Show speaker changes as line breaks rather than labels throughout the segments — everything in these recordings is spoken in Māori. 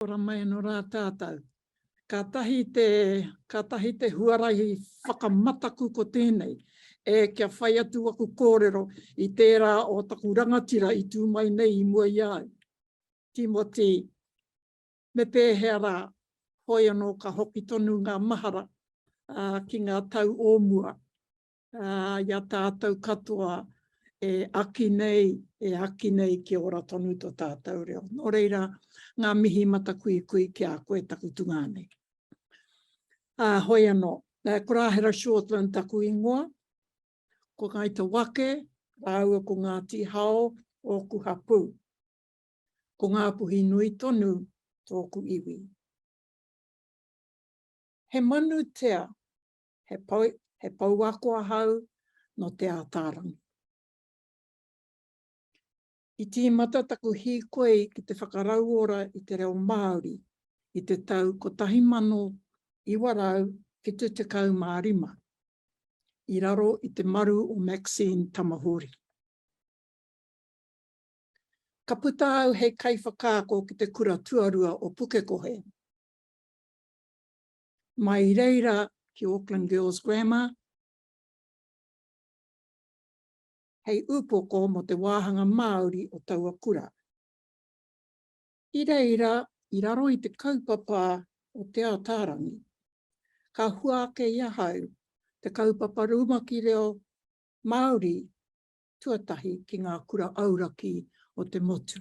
Ora mai anō rā tātou. Kātahi te, kātahi te huarahi whakamataku ko tēnei, e kia whai atu aku kōrero i tērā o taku rangatira i tū mai nei i mua i a au. Tīmoti, me pēhea rā, hoi anō ka hoki tonu ngā mahara, ā, ki ngā tau o mua. Ā, i a tātou katoa e aki nei, e aki nei kia ora tonu to tātou reo. Nō reira, ngā mihi matakuikui ki a koe taku tungā nei. Ā, hoi anō, ko Rāhera Shortland taku ingoa, ko Ngāi Te Wake rāua ko Ngāti Hao ōku hapū. Ko Ngāpuhi nui tonu tōku iwi. He manu tea he pouako ahau nō Te Ātaarangi. I tīmata taku hīkoi ki te whakarauora i te reo Māori i te tau 1975, i raro i te maru o Maxine Tamahori. Ka puta au hei kaiwhakaako ki te kura tuarua o Pukekohe. mai i reira ki Auckland Girls Grammar hei upoko mō te wāhanga Māori o taua kura. I reira, i raro i te kaupapa o Te Ataarangi, ka hua ake i ahau te kaupapa rumaki reo Māori tuatahi ki ngā kura auraki o te motu.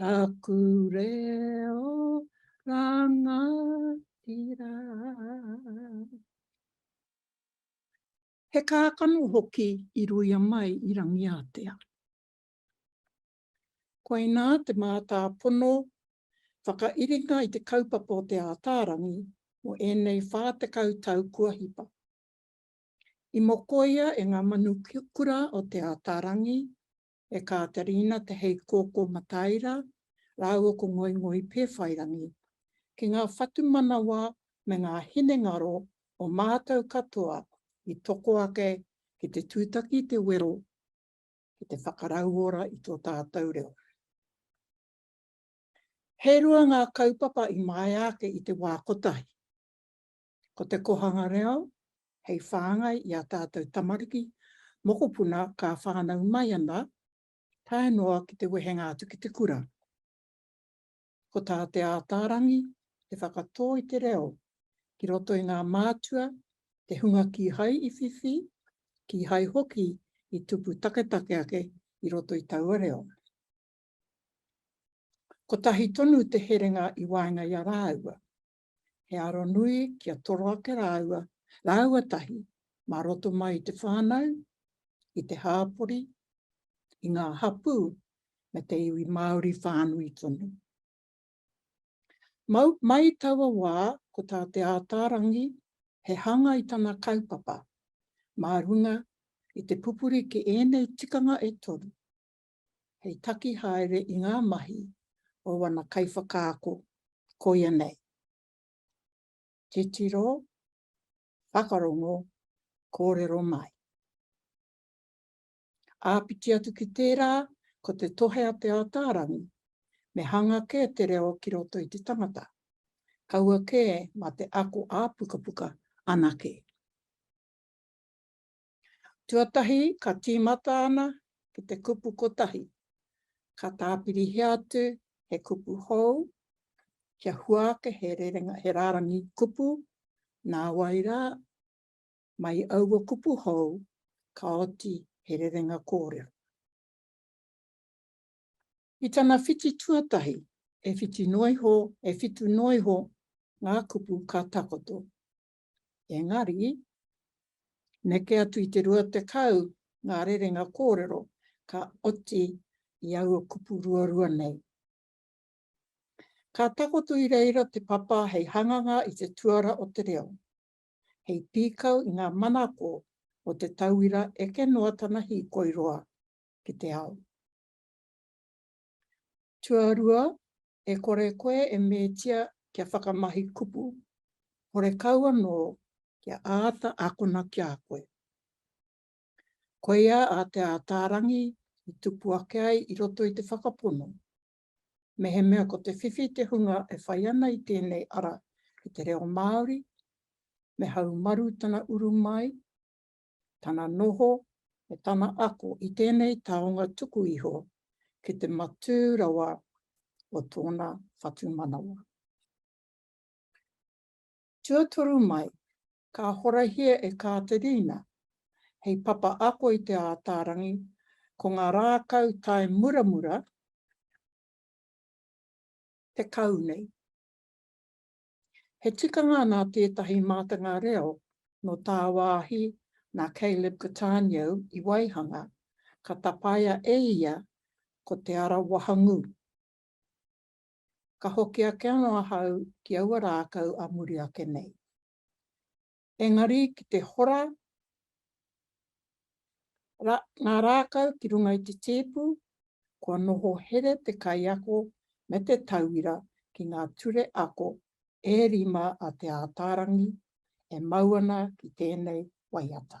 taku reo rangatira. He kākano hoki i ruia mai i Rangiātea. Koinā te mātāpono whakairinga i te kaupapa o Te Ātaarangi mō ēnei 40 tau kua hipa. I mokoia e ngā manu kura o Te Ātaarangi e Kāterina Te Heikōkō Mataira rāua ko Ngoingoi Pēwhairangi, ki ngā whatumanawa me ngā hinengaro o mātou katoa i toko ake ki te tūtaki i te wero ki te whakarauora i tō tātou reo. He rua ngā kaupapa i maea ake i te wā kotahi. Ko te Kohanga Reo hei whāngai i ā tātou tamariki, mokopuna ka whānau mai ana tae noa ki te wehenga atu ki te kura. Ko tā Te Ātaarangi te whakatō i te reo ki roto i ngā mātua, te hunga kīhai i whiwhi, kīhai hoki i tupu taketake ake i roto i taua reo. Kotahi tonu te herenga i waenga i a rāua, He aro nui kia toro ake rāua, rāua tahi, mā roto mai i te whānau, i te hāpori, i ngā hapū me te iwi Māori whānui tonu. Mau, mai taua wā, ko tā Te Ātaarangi, he hanga i tana kaupapa, mā runga i te pupuri ki ēnei tikanga e toru, hei taki haere i ngā mahi o wana kaiwhakaako, koia nei, titiro, whakarongo, kōrero mai. Āpiti atu ki tērā, ko te tohe a Te Ātaarangi, me hanga kē te reo ki roto i te tangata, kaua kē mā te ako ā-pukapuka anake. Tuatahi ka tīmata ana ki te kupu kotahi, ka tāpirihia atu he kupu hou, kia hua ake he rerenga, he rārangi kupu, nā wai rā, mai aua kupu hou, ka oti he rerenga kōrero. I tana whiti tuatahi, e whitu noa iho, e whitu noa iho ngā kupu ka takoto, Engari, neke atu i te 20 ngā rerenga kōrero ka oti i aua kupu ruarua nei. Ka takoto i reira te papa hei hanganga i te tuara o te reo, hei pīkau i ngā manako o te tauira eke noa tana hīkoi roa ki te ao. Tuarua, e kore koe e metia kia whakamahi kupu, horekau anō kia āta akona ki a koe. Koia a Te Ātaarangi i tupu ake ai i roto i te whakapono, mehemea ko te whiwhi te hunga e whai ana i tēnei ara ki te reo Māori, me haumaru tana uru mai, tana noho me tana ako i tēnei taonga tuku iho ki te matū rawa o tōna whatumanawa. Tuatoru mai, ka horahia e Kāterina hei papa ako i Te Ātaarangi, ko ngā rākau tae muramura tekau nei. He tikanga nā tētahi mātanga reo nō tāwāhi nā Caleb Cattaneo i waihanga, ka tapaia e ia ko Te Ara Wahangū. Ka hoki ake anō ahau ki aua rākau a muri ake nei. engari ki te hora ngā rākau ki runga i te tēpu, kua noho here te kaiako me te tauira ki ngā ture ako e rima a Te Ātaarangi e mau ana ki tēnei waiata.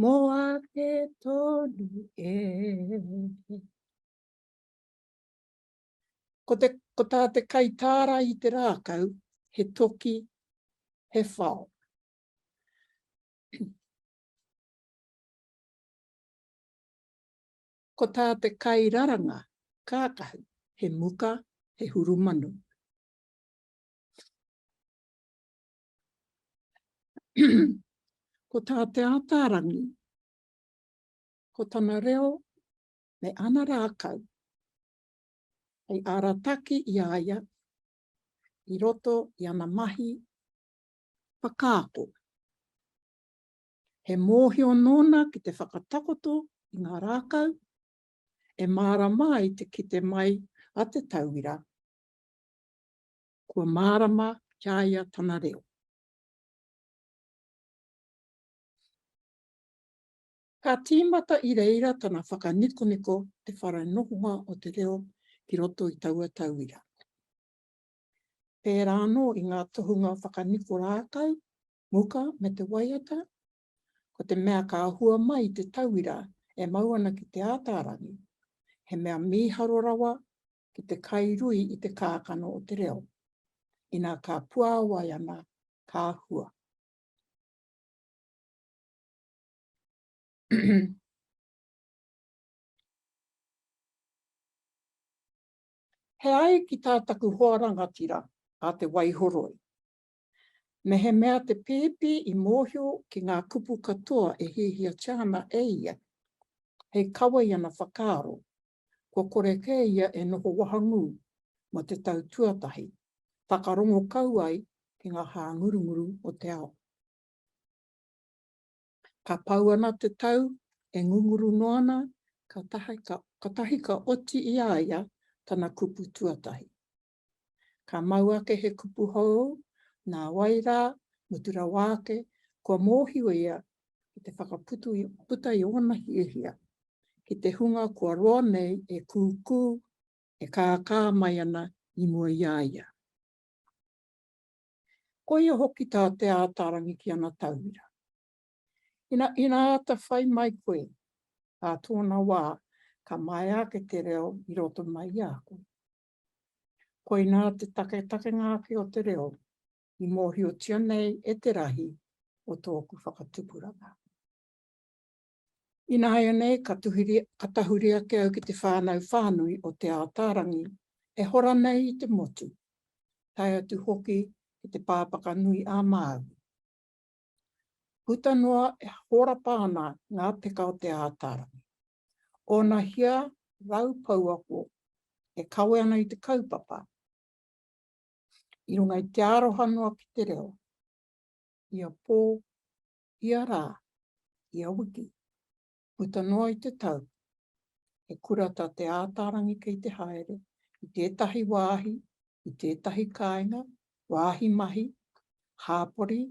Mo ake tonu e. Ko te, ko tā te kaitāra i te rākau, he toki, he whao. Ko tā te kairaranga, kākahu, he muka, he hurumanu. Ko tā Te Ātaarangi, ko tana reo me ana rākau, hei arataki i a ia i roto i ana mahi whakaako. He mōhio nōna ki te whakatakoto i ngā rākau, e mārama ai te kite mai a te tauira. Kua mārama ki a ia tana reo. Ka tīmata i reira tana whakanikoniko te whare nohonga o te reo ki roto i taua tauira. Pērā anō i ngā tohunga whakaniko rākau, muka me te waiata, ko te mea ka hua mai te tauira e mau ana ki Te Ātaarangi, he mea mīharo rawa ki te kai rui i te kākano o te reo, ina ka puāwai ana, ka hua. He ai ki tā taku hoa rangatira a Te Waihoroi. Mehemea te pēpi i mōhio ki ngā kupu katoa e hiahiatia ana e ia, hei kawai ana whakaaro kua kore kē ia e noho wahangū mō te tau tuatahi, whakarongo kau ai ki ngā hāngurunguru o te ao. Ka pau ana te tau, e ngunguru noa ana, kātahi ka oti i a ia tana kupu tuatahi. Ka mau ake he kupu hou, nā wai rā, mutu rawa ake, kua mōhio ia ki te whakaputa i ōna hiahia, ki te hunga kua roa nei e kūkū, e kākā mai ana i mua i a ia. Koia hoki tā Te Ātaarangi ki ana tauira. Ina āta whai mai koe, ā tōna wā, ka maea ake te reo i roto mai i a koe. Koinā te taketakenga ake o te reo i mōhiotia nei e te rahi o tōku whakatupuranga. Ināianei ka tahuri ake au ki te whānau whānui o Te Ātaarangi e hora nei i te motu, tae atu hoki ki te Pāpaka Nui ā Māui. Puta noa e hōrapa ana ngā peka o Te Ātaarangi, Ōna hia rau pouako e kawe ana i te kaupapa, i runga i te aroha noa ki te reo, ia pō, ia rā, ia wiki, puta noa i te tau, he kura tā Te Ātaarangi kei te haere i tētahi wāhi, i tētahi kāinga, wāhi mahi, hāpori,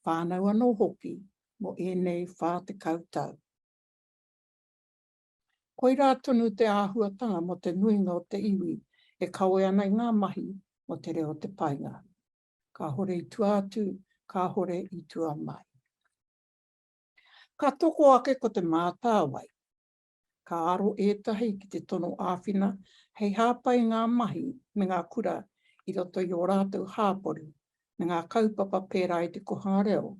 whānau anō hoki mō ēnei whā tekau tau. Koirā tonu te āhuatanga mō te nuinga o te iwi e kawe ana i ngā mahi mō te reo o te paenga. Kāhore i tua atu, kāhore i tua mai. Ka toko ake ko Te Mātāwai. Ka aro ētahi ki te tono āwhina hei hāpai i ngā mahi me ngā kura i roto i ō rātou hāpori me ngā kaupapa pērā i te kohanga reo,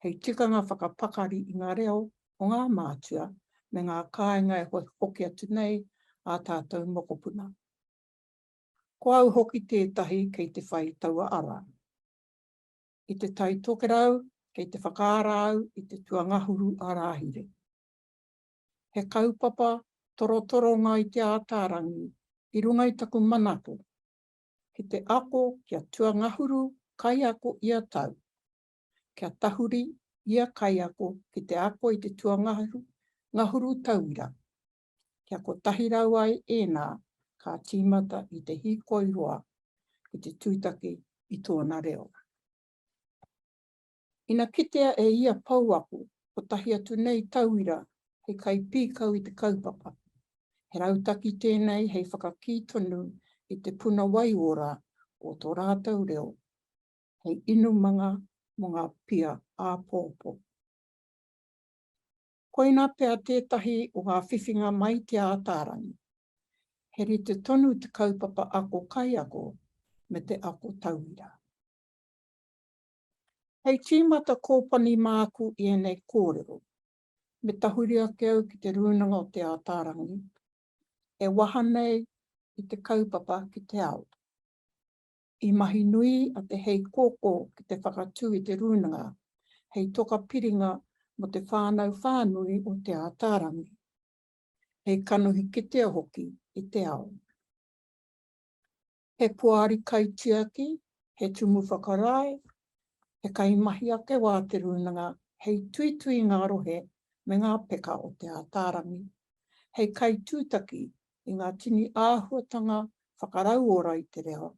hei tikanga whakapakari i ngā reo o ngā mātua me ngā kāinga e hokihoki atu nei ā tātou mokopuna. Ko au hoki tētahi kei te whai taua ara. I Te Tai Tokerau, kei te whakaara au i te tuangahuru ā-Rāhiri. He kaupapa torotoronga i Te Ātaarangi i runga i taku manako ki te ako kia tuangahuru kaiako ia tau, kia tahuri ia kaiako ki te ako i te tuangahu ngahuru tauira, kia kotahi rau ai ēnā ka tīmata i te hīkoi roa ki te tūtaki i tōna reo. Ina kitea e ia pouako kotahi atu nei tauira hei kaipīkau i te kaupapa, he rautaki tēnei hei whakakī tonu i te puna waiora o tō rātou reo, hei inumanga mō ngā pia āpōpō. Koina pea tētahi o ngā whiwhinga mai Te Ātaarangi. He rite tonu te kaupapa ako kaiako me te ako tauira. Hei tīmata kōpani māku i ēnei kōrero, me tahuri ake au ki Te Rūnanga o Te Ātaarangi, e waha nei i te kaupapa ki te ao. I mahi nui a Te Heikōkō ki te whakatū i te rūnanga hei toka piringa mō te whānau whānui o Te Ātaarangi, hei kanohi kitea hoki i te ao. He poari kaitiaki, he tumu whakarae, he kaimahi ake wā te rūnanga hei tuitui ngā rohe me ngā peka o Te Ātaarangi, hei kaitūtaki i ngā tini āhuatanga whakarauora i te reo,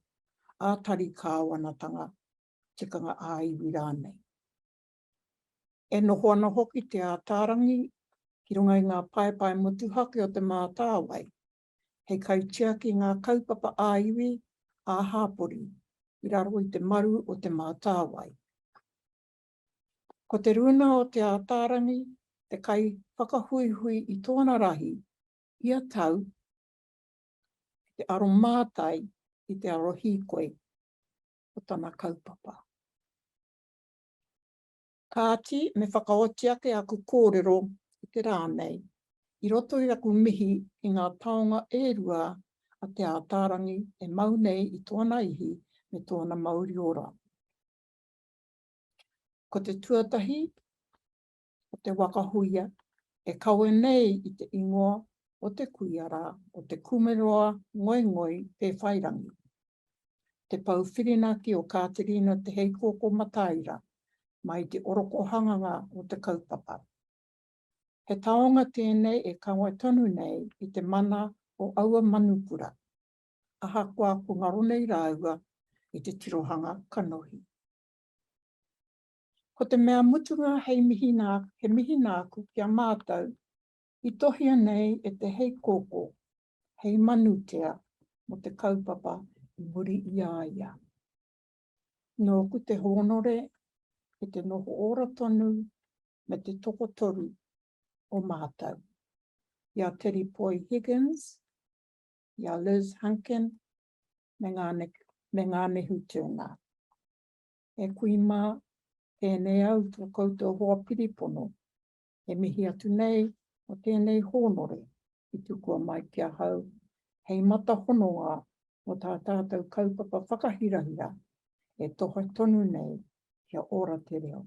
ā-tari kāwanatanga, tikanga ā-iwi rānei. E noho ana hoki Te Ātaarangi ki runga i ngā paepae motuhake o Te Mātāwai, hei kaitiaki i ngā kaupapa ā-iwi, ā-hāpori, i raro i te maru o Te Mātāwai. Ko Te Rūnā o Te Ātaarangi te kaiwhakahuihui i tōna rahi Ia tau, ki te aromātai i te aro hīkoi o tana kaupapa. Kāti, me whakaoti ake aku kōrero i te rā nei, i roto i aku mihi ki ngā taonga e rua a Te Ātaarangi e mau nei i tōna ihi me tōna mauri ora. Ko te tuatahi, o te waka huia e kawe nei i te ingoa o te kuia rā o Te Kumeroa Ngoingoi Pēwhairangi, te pou whirinaki o Kāterina Te Heikōkō Mataira mai i te orokohanganga o te kaupapa. He taonga tēnei e kawe tonu nei i te mana o aua manukura, ahakoa ko ngaro nei rāua i te tirohanga kanohi. Ko te mea mutunga hei mihi nā, he mihi nāku ki a mātou i tohia nei e te hei kōkō, hei manutea mō te kaupapa i muri i a ia. Nōku te hōnore e te noho ora tonu me te tokotoru o mātou, i a Teri Poi Higgins, i a Liz Hunkin, me Ngane, me Nganehu Turner. E kui mā, tēnei au tō koutou hoa piripono. E mihi atu nei mō tēnei hōnore i tukua mai ki ahau hei mata hononga mō tā tātou kaupapa whakahirahira e toha tonu nei kia ora te reo,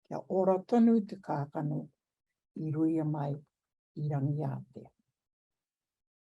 kia ora tonu te kākano i ruia mai i Rangiātea.